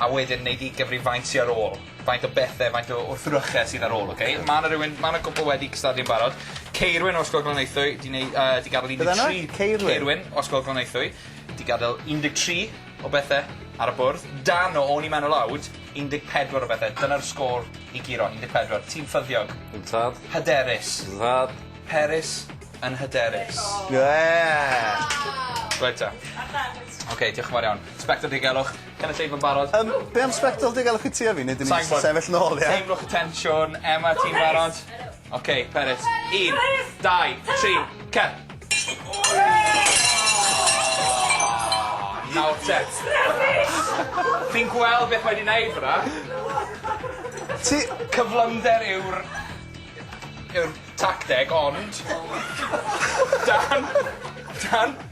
a wedyn neud 'i gyfrifaint hi ar ôl. Faint o bethe faint o wrthryche sydd ar ôl oce? Ma' 'na rywun ma' 'na cwpwl wedi cystadlu yn barod. Ceirwyn o Ysgol Glanaethwy 'di neu- yy 'di gadel un deg tri... Beth arno? Ceirwyn? Ceirwyn o Ysgol Glanaethwy 'di gadel un deg tri o bethe ar y bwrdd. Dan o o'n i mewn o lawd un deg pedwar o bethe. Dyna'r sgôr i guro un deg pedwar. Ti'n ffyddiog. Yntad. Hyderus. Yntad. Peris yn hyderus. Diddorol. Ie! Reit 'te. Oce diolch yn fawr iawn. Sbectol diogelwch. Cynulleidfa'n barod. Yym be' am sbectol diogelwch i ti a fi neu 'dyn ni jyst yn sefyll nôl ie? Teimlwch y tensiwn. Emma ti'n barod? Oce peryt. Un. Peryt! Dau. Tri. Cer! Nawr te. Fi'n gweld beth mae 'di neud fyn 'na. Ti... Cyflymder yw'r yw'r tacteg ond... Dan dan